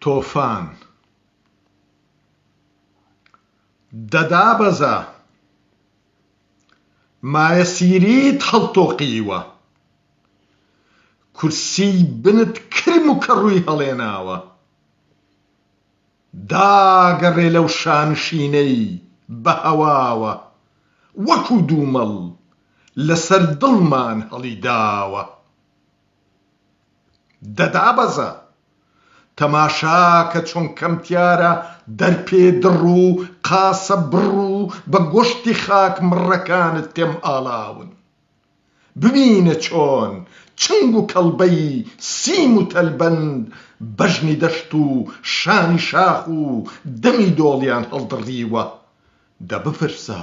تۆفان دەدابەزا، مایەسیریت هەڵتۆقیوە، کورسی بنت کرم و کەڕووی هەڵێناوە، داگەڕێ لەو شانشینەی بە هەواوە، وەکو دوومەڵ لەسەر دڵمان هەڵیداوە. دەدابەزا. تەماشا کە چۆن کەمتیارە دەرپێ دڕ و قاسە بڕ و بە گۆشتی خاک مڕەکانت تێم ئاڵاون. ببینە چۆن چنگ و کەڵبەی سیم و تەلبەند بەژنی دەشت و شانی شاخ و دەمی دۆڵیان هەڵدڕیوە. دە بپرسە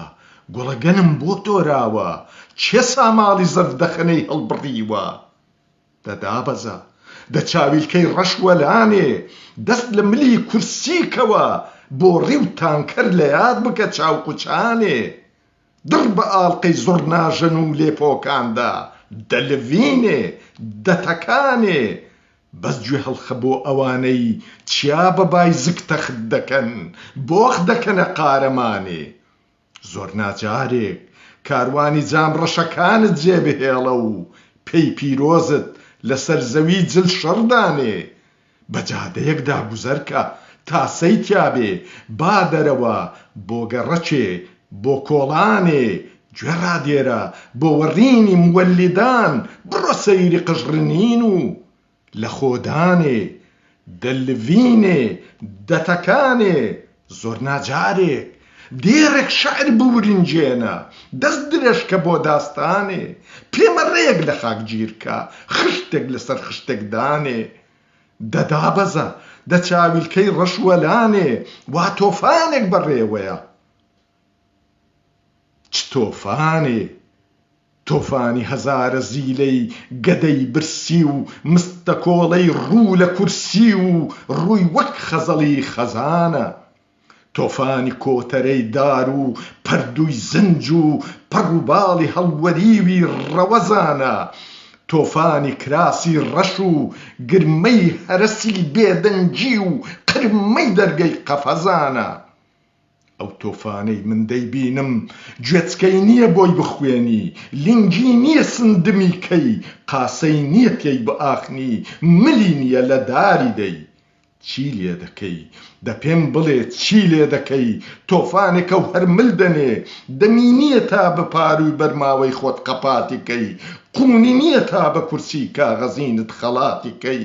گوڵە گەنم بۆ تۆراوە؟ کێ ساماڵی زەردەخەنەی هەڵبڕیوە؟ دە دابەزە، دە چاویلکەی ڕەش وەلانێ، دەست لە ملی کورسی کەوە، بۆڕی و تانکەر لە یاد بکە چاوکوچانێ، دڕ بە ئاڵقەی زوڕناژەن و لێپۆکاندا، دە لڤینێ، دە تەکانێ، بەس گوێ هەڵخە بۆ ئەوانەی چیا بە بای زک تەخت دەکەن بۆخ دەکەنە قارەمانێ زۆر ناجارێک کاروانی جام ڕەشەکانت جێ بهێڵە و پێی پیرۆزت لەسەر زەوی جل شڕ دانێ بە جادەیەکدا گوزەر کە تاسەی تیابێ با دەرەوە بۆ گەڕەکێ بۆ کۆڵانێ گوێ ڕادێرە بۆ وەڕینی موەلیدان بڕۆ سەیری قژڕنین و لە خۆ دانێ دە لڤینێ دە تەکانێ زۆر ناجارێک دێڕێک شعر بورنجێنە دەست درێژکە بۆ داستانێ پێ مە ڕێک لە خاک گیرکە خشتێک لە سەر خشتێک دانێ دە دابەزە دە چاویلکەی ڕەش وەلانێ وا تۆفانێک بە ڕێوەیە چ تۆفانێ، تۆفانی هەزارە زیلەی گەدەی برسی و مستەکۆڵەی ڕوو لە کورسی و ڕووی وەک خەزەڵی خەزانە، تۆفانی کۆتەرەی دار و پەردووی زنج و پەڕ و باڵی هەڵوەریوی ڕەوەزانە، تۆفانی کراسی ڕەش و گرمەی هەرەسی بێدەنگی و قرمەی دەرگەی قەفەزانە. ئەو تۆفانەی من دەیبینم گوێچکەی نییە بۆی بخوێنی، لینگی نییە سندمی کەی، قاسەی نییە تێی بئاخنی، ملی نییە لە داری دەی. چی لێ دەکەی؟ دە پێم بڵێ چی لێ دەکەی؟ تۆفانێکە و هەر مل دەنێ، دەمی نییە تا بە پارووی بەرماوەی خۆت قەپاتی کەی، قوونی نییە تا بە کورسیی کاغەزینت خەڵاتی کەی.